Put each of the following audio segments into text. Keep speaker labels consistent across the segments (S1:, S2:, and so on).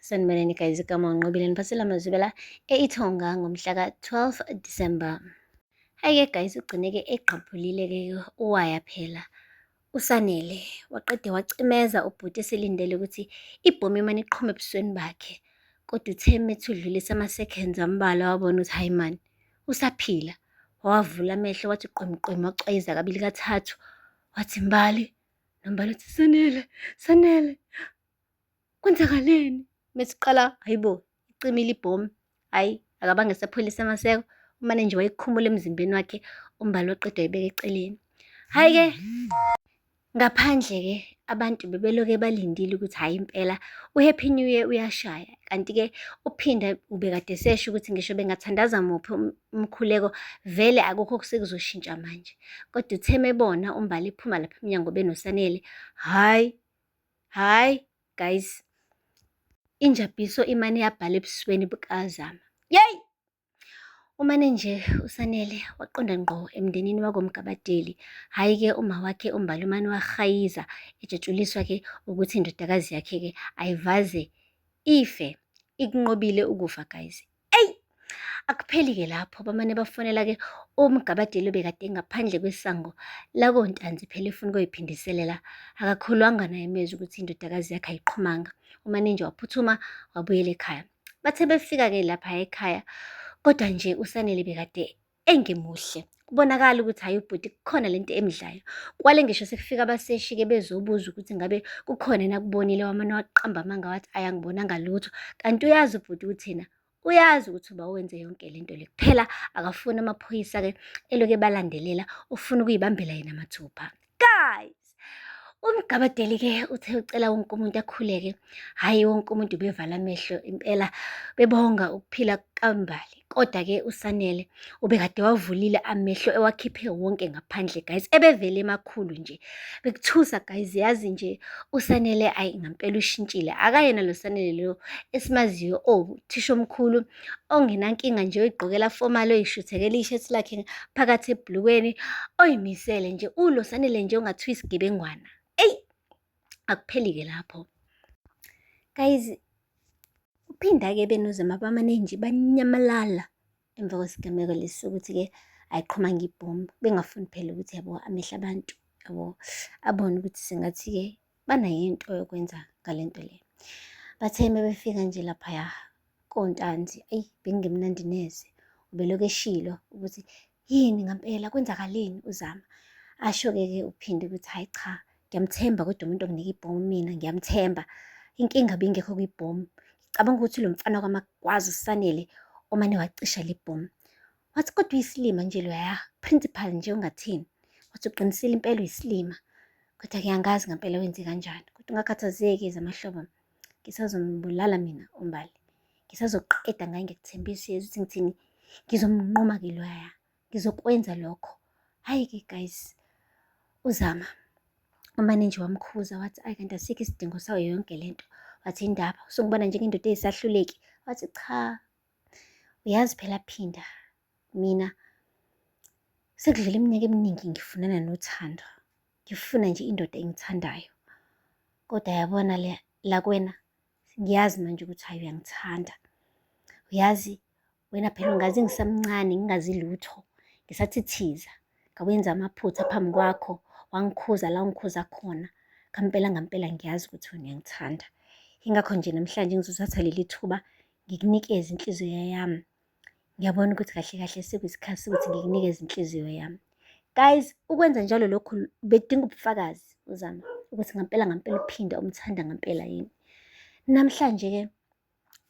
S1: sanibonani guys igama unqobile niphathela mazwibela eithonga ngomhla ka-12 december hhayi-ke guys ugcineke egqabhulile-ke uwaya phela usanele waqede wacimeza ubhuti eselindele ukuthi ibhomi imane iqhume ebusweni bakhe kodwa uthe methi udlulisa ama-seconds ambalwa wabona ukuthi hhayi mani usaphila wawavula amehlo wathi qwemqwemi wacwayiza kabili kathathu wathi mbali nombali uthi sanele sanele Kwenzakaleni? Mesiqala hayibo icimile ibhomu. Hayi akabange esapholisa amaseko umane nje wayekhumula emzimbeni wakhe umbali waqeda wayibeka eceleni. Hhayi-ke ngaphandle-ke abantu bebeloke balindile ukuthi hhayi impela uHappy New Year uyashaya. Kanti-ke uPhinda ubekade esesho ukuthi ngisho bengathandaza muphi um-, umkhuleko vele akukho osekuzoshintsha manje. Kodwa uthe mebona uMbali ephuma lapha emnyango benoSanele, hhayi Hhayi guys, injabhiso imane yabhala ebusweni bukaZama. Yeyi! Umane nje uSanele waqonda ngqo emndenini wakoMgabadeli. Hhayi-ke uma wakhe uMbali umane wahayiza ejatshuliswa-ke ukuthi indodakazi yakhe-ke ayivaze ife. Ikunqobile ukufa guys. eyi akupheli-ke lapho bamane bafonela-ke umgabadeli obekade ngaphandle kwesango lakontanzi phela efuna ukuyiphindiselela akakholwanga naye mezwi ukuthi indodakazi yakhe ayiqhumanga umane nje waphuthuma wabuyela ekhaya bathe befika-ke lapha ekhaya kodwa nje usanele bekade engimuhle kubonakala ukuthi hhayi ubhuti kukhona lento emdlayo kwale ngisho sekufika abaseshi-ke bezobuza ukuthi ngabe kukhona yena kubonile wamane waqamba amanga wathi ayangibonanga lutho kanti uyazi ubhuti ukuthi yena uyazi ukuthi uba wenze yonke lento le kuphela akafuni amaphoyisa-ke eloke balandelela ufuna ukuyibambela yena mathupha guys umgabadeli ke uthe ucela wonke umuntu akhuleke hhayi wonke umuntu ubevala amehlo impela bebonga ukuphila kambali kodwa ke usanele ubekade wavulile amehlo ewakhiphe wonke ngaphandle guys ebevele emakhulu nje bekuthusa guys yazi nje usanele ayi ngampela ushintshile akayena lo sanele lo esimaziyo owuthisha omkhulu ongenankinga nje oyigqokela formal oyishuthekela ishethi lakhe phakathi ebhulukweni oyimisele nje ulosanele nje ongathiwa isigebengwana eyi akupheli-ke lapho guys kuphinda-ke benozama bamane nje banyamalala emva kwesigameko lesi sokuthi-ke ayiqhuma ngibhomu bengafuni phela ukuthi yabo amehla abantu yabo abone ukuthi sengathi-ke banayo into yokwenza ngale nto le bathe uma befika nje laphaya kontanzi eyi bengingemnandi neze ubelokhu eshilo ukuthi yini ngampela kwenzakaleni uzama asho-ke ke uphinde ukuthi hhayi cha ngiyamthemba kodwa umuntu onginika ibhomu mina ngiyamthemba inkinga bingekho kwibhomu ngicabanga ukuthi lo mfana kwamakwazi usanele omane wacisha le bhomu Wathi kodwa uyisilima nje loya principal nje ungathini. Wathi uqinisile impela uyisilima. Kodwa ke angazi ngempela wenze kanjani. Kodwa ungakhathazeki zamahlobo. Ngisazombulala mina umbali. Ngisazoqeda ngaye ngikuthembisa yezwa ukuthi ngithini. Ngizomnquma ke loya. Ngizokwenza lokho. Hayi ke guys. Uzama umane nje wamkhuza wathi ayi kanti asikho isidingo sayo yonke lento. Wathi indaba usungibona njengendoda eyisahluleki. Wathi cha Uyazi phela Phinda, mina sekudlule iminyaka eminingi ngifunana nothando. Ngifuna nje indoda engithandayo. Kodwa yabona le la kwena ngiyazi manje ukuthi hayi uyangithanda. Uyazi wena phela ungazi ngisamncane ngingazi lutho ngisathithiza ngawenza amaphutha phambi kwakho wangikhuza la ungikhuza khona ngampela ngampela ngiyazi ukuthi wena uyangithanda ingakho nje namhlanje ngizothatha leli thuba ngikunikeze inhliziyo yami ngiyabona ukuthi kahle kahle sekuyisikhathi sokuthi ngikunikeze inhliziyo yami guys ukwenza njalo lokhu bedinga ubufakazi uzama ukuthi ngampela ngampela uphinde umthanda ngampela yini namhlanje-ke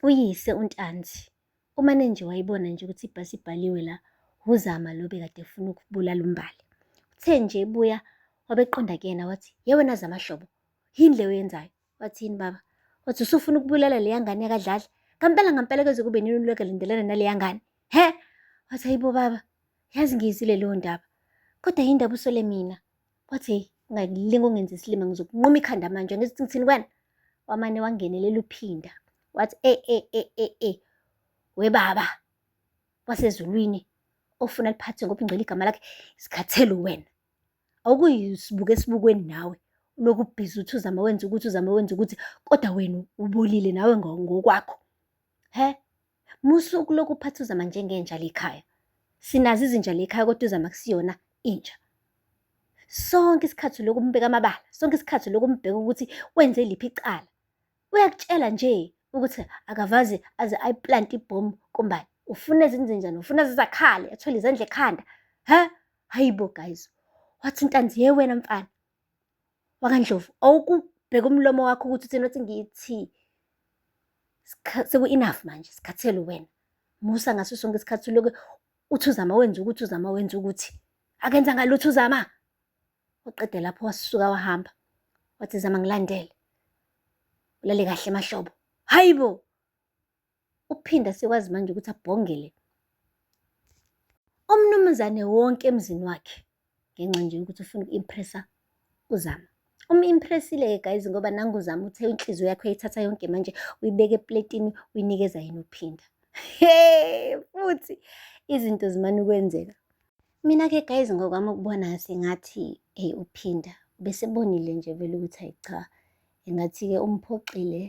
S1: uyise untanzi umane nje wayibona nje ukuthi ibhasi ibhaliwe la wuzama lo bekade efuna ukubulala umbali uthe nje ebuya wabeqonda kuyena wathi ye wena zamahlobo yini le oyenzayo Wathini baba? Wathi usufuna ukubulala leya ngane yakadlala? Ngampela ngampela kuze kube nini ulokhu elindelana naleya ngane? He? Wathi hayibo baba, yazi ngiyizile leyo ndaba. Kodwa yini ndaba usole mina? Wathi hey, ungalinga ungenza isilima ngizokunquma ikhanda manje ngithi ngithini kwena? Wamane wangenelela uphinda. Wathi e e e e e we baba wasezulwini ofuna liphathwe ngobungcwele igama lakhe sikhathele wena. Awukuyisibuka esibukweni nawe, ulokhu ubhizi uthi uzama wenza ukuthi, uzama wenza ukuthi kodwa wena ubolile nawe ngokwakho. Hhe? Musa ukulokhu uphatha uZama njengenja le ekhaya. Sinazo izinja le ekhaya kodwa uZama akusiyona inja. Sonke isikhathi ulokhu umbeka amabala, sonke isikhathi ulokhu umbheka ukuthi wenze liphi icala. uyakutshela nje ukuthi akavazi aze ayiplante ibhomu kumbani ufuna ezinzenjani ufuna zizakhale athwele izandla ekhanda ha hayibo guys wathi intanzi ye wena mfana wakandlovu awukubheka umlomo wakho ukuthi uthini wathi ngithi seku-enough manje sikhathele wena musa ngaso sonke isikhathi uloke uthi uzama wenza ukuthi uzama wenza ukuthi akenza ngalutho uzama waqede lapho wasuka wahamba wathi zama ngilandele ulale kahle mahlobo hayi bo uphinda sekwazi manje ukuthi abhongele umnumzane wonke emzini wakhe ngenxa nje yokuthi ufuna uku-impressa uzama umu-impressile-ke guys ngoba nanguzama uthe inhliziyo yakho yayithatha yonke manje uyibeke epletini uyinikeza yena uphinda he futhi izinto zimane ukwenzeka Mina-ke guys ngokwami ukubona sengathi eyi uphinda besebonile nje vele ukuthi ayi cha engathi-ke umphoxile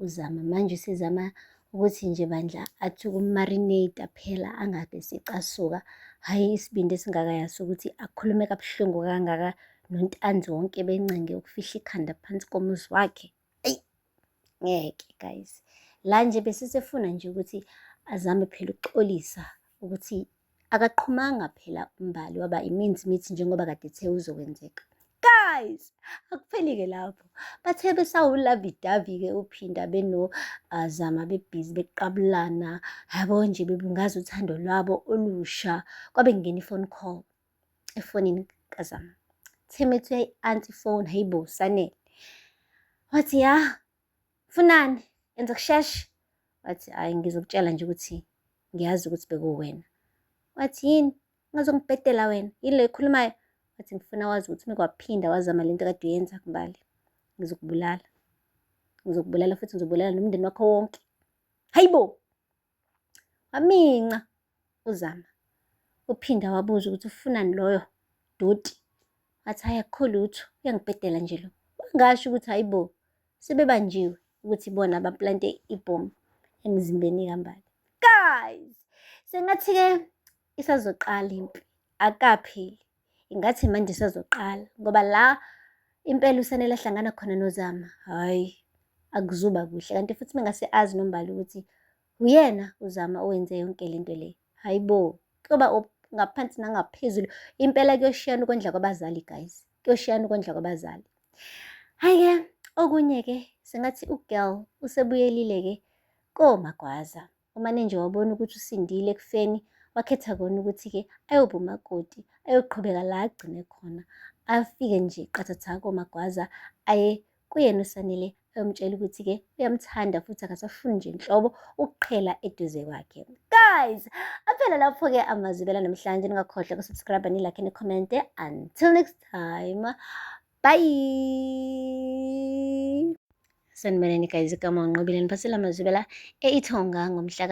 S1: uzama manje usezama ukuthi nje bandla athi ukumarinate phela angabe secasuka hhayi isibindi esingaka yaso ukuthi akhulume kabuhlungu kangaka nontanzi wonke bencinge ukufihla ikhanda phansi komuzi wakhe eyi ngeke guys la nje besisefuna nje ukuthi azame phela ukuxolisa ukuthi akaqhumanga phela umbali waba iminzi mithi njengoba kade ethe uzokwenzeka guys akupheli-ke lapho bathe besawulavidavi-ke uphinda benozama ah, bebhizi beqabulana yabo nje bebungaza uthando lwabo olusha kwabe kungena i-phone call efonini kazama theme ethi uyayi-anti ifoni hayibo sanele wathi ya funani enza kusheshe wathi hhayi ngizokutshela nje ukuthi ngiyazi ukuthi bekuwena wathi yini ngazongibhedela wena yini le ekhulumayo wathi ngifuna wazi ukuthi mekwaphinda wazama le nto kade uyenza kumbali ngizokubulala ngizokubulala futhi ngizobulala nomndeni wakho wonke hayibo Waminca uZama. Uphinda wabuza ukuthi ufunani loyo doti. Wathi hhayi akukho lutho, uyangibhedela nje lo. Wangasho ukuthi hhayi bo, sebebanjiwe ukuthi ibona abaplante ibhomu emzimbeni kaMbali. Guys, sengathi-ke isazoqala impi, akapheli. ingathi manje sazoqala ngoba la impela usanele ahlangana khona nozama hhayi akuzuba kuhle kanti futhi mengase azi nombali ukuthi uyena uzama owenze yonke le nto le hhayi bo kuyoba ngaphansi nangaphezulu impela kuyoshiyana ukondla kwabazali guys kuyoshiyana ukondla kwabazali hhayi-ke okunye-ke sengathi ugirl usebuyelile-ke komagwaza Uma ninje wabona ukuthi usindile ekufeni, wakhetha kona ukuthi-ke ayoba umakoti, ayoqhubeka la agcine khona. Afike nje qathatha komagwaza aye kuyena usanele ayomtshela ukuthi-ke uyamthanda futhi akasafuni nje nhlobo ukuqhela eduze kwakhe guys aphela lapho-ke amazibela namhlanje ningakhohlwa kusubscribe nilakhe nikhomente until next time bye sanibonani guys kama unqobile niphathela amazwibela e-ithonga ngomhla ka